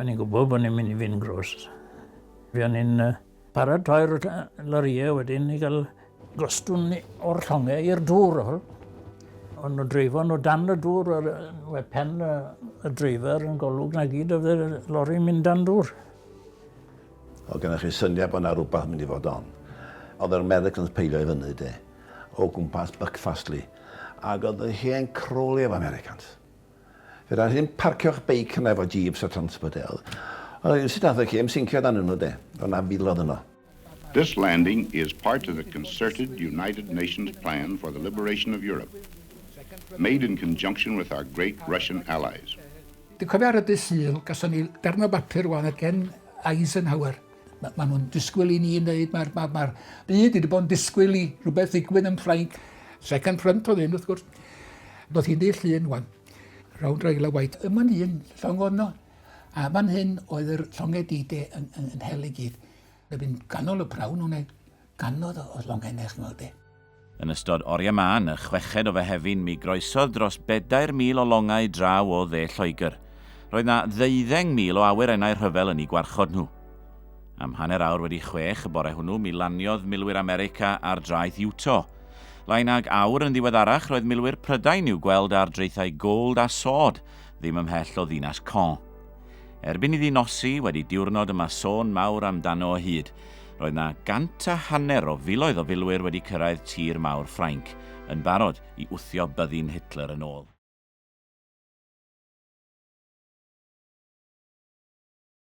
O'n i'n gwybod bod ni'n mynd i fynd grwst. Fe o'n i'n paratoi'r lorïau wedyn i gael gostwn o'r llongau i'r dŵr. O'n nhw dreifo nhw dan y dŵr, we pen y dreifer yn golwg na gyd oedd y lori'n mynd dan dŵr. Oedd gennych chi syniad bod yna rhywbeth yn mynd i fod on. Oedd yr Americans peilio i fyny de, o gwmpas Buckfastly, ac oedd y hen crolio efo Americans. Fedra ddim parcio'ch beic yna efo Jeeps a Transport L. Ond rywsut nath y cêm sincio dan yno de. O' 'na filodd yno. This landing is part of the concerted United Nations plan for the liberation of Europe, made in conjunction with our great Russian allies. Dwi'n cofio ar y dydd Sul, gason ni darn o bapur ŵan oedd gen Eisenhower. Mae ma nhw'n disgwyl i ni wneud, mae'r ma, ma, ma byd wedi bod yn disgwyl i rhywbeth ddigwydd yn Ffrainc. Second front oedd hyn, wrth gwrs. Doedd hi'n ddill un, wan. Rownd Raila White, y man un, llong ono. A fan hyn oedd yr llongau dide yn, yn, yn hel i gyd. Fe fi'n ganol y prawn o'n ei Gannoedd o longhennau, ch'mod be. Yn ystod oriau mân, y chweched o Fehefin, mi groesodd dros bedair mil o longau draw o dde Lloegr. Roedd 'na ddeuddeng mil o awyrennau rhyfel yn 'u gwarchod nhw. Am hanner awr wedi chwech y bore hwnnw, mi laniodd milwyr America ar draeth Utah. Lai nag awr yn ddiweddarach, roedd milwyr Prydain i'w gweld ar draethau Gold a Sword, ddim ymhell o ddinas Caen. Erbyn iddi nosi, wedi diwrnod y mae sôn mawr amdano o hyd, Roedd na gant a hanner o filoedd o filwyr wedi cyrraedd tir mawr Ffrainc, yn barod i wthio byddin Hitler yn ôl.